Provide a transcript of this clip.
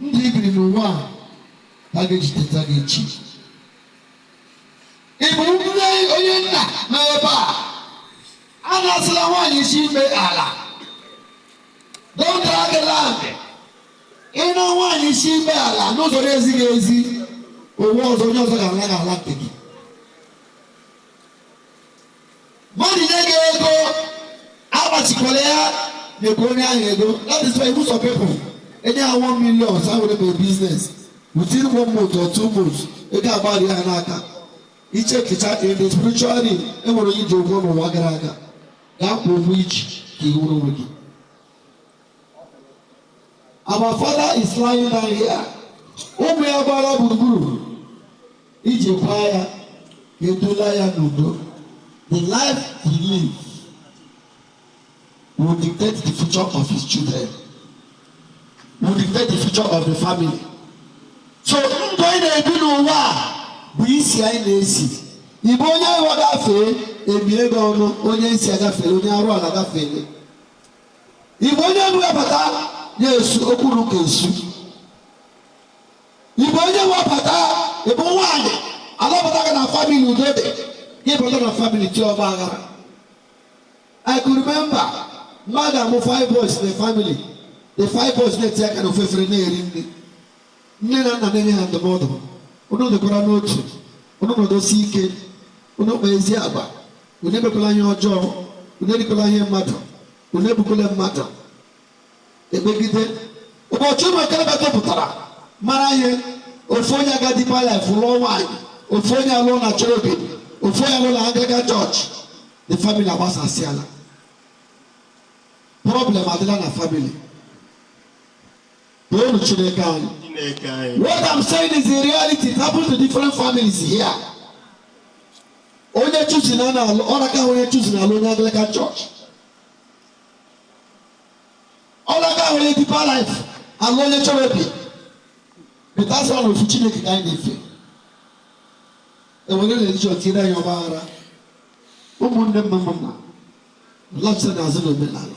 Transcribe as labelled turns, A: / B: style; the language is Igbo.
A: ndụ ibiri n'ụwa a ha ga-ejideta gị echi ị bụ nne onye nna na ebe a anasịla nwaanyị isi mkpe ala don't drag land ịna nwaanyị isi mkpe ala n'ụzọ na-ezighị ezi ụwa ọzọ onye ọzọ ga-ana gị ala nke gị Mmadụ nye gị ego agbachikwala ya nyekwa onye ahụ ego that is why ị hụ some people enye ha 1 million sị ha were mee business within one month or two months ego agbari ha n'aka ị checkịchaa in the spiritual realm enwere onye ji ụgwọ n'ụwa gara aga gaa kwụọ ụgwọ iji ka i nwere onwe gị Our father is lying down here. Ụmụ ya gbara gburugburu iji kwa ya edula ya n'udo. The life he live will dictate the future of his children. Will dictate the future of the family. So ndụ anyị na-ebi n'ụwa a bụ isi anyị na-esi. Ị bụ onye arụ gafee, emie gị ọnụ, onye isi agafere, onye arụ ala gafere. Ị bụ onye webata ya esu okwuru ka esu Ị bụ onye webata ị bụ nwaanyị alụbata gị na family udo dị gị bata na family tie ọgba aghara I could remember mmadụ amụ five boys in the family the five boys na-etinye aka na ofu efere na-eri nri Nne na nna na-enye ha ndụmọdụ, unu dịkwara n'otu, unu nọdụsie ike, unu kpaa ezi agwa, unu emekwala ihe ọjọọ, unu erikwala ihe mmadụ, unu egbukwala mmadụ. Ekpegide. Ụbọchị ụmụ okorobịa topụtara mara ihe, ofu onye aga Deeper Life lụọ nwaanyị, ofu onye alụọ na Cherubim, ofu onye alụọ na Anglican Church. The family agbasasịala. Problem adịla na family. Toonu Chineke anyị. Chineke anyị. What I'm saying is the reality it happens to different families here. Onye Chosen na ọ na-aka onye Chosen alụ onye Anglican church. Ọ na-aka onye Deeper Life alụ onye Cherubim. But that's one ofu Chineke ka anyị na-efe. E were religion tinyere anyị ọgba aghara. Ụmụnne mma mma nụ lọchitanụ azụ na omenala.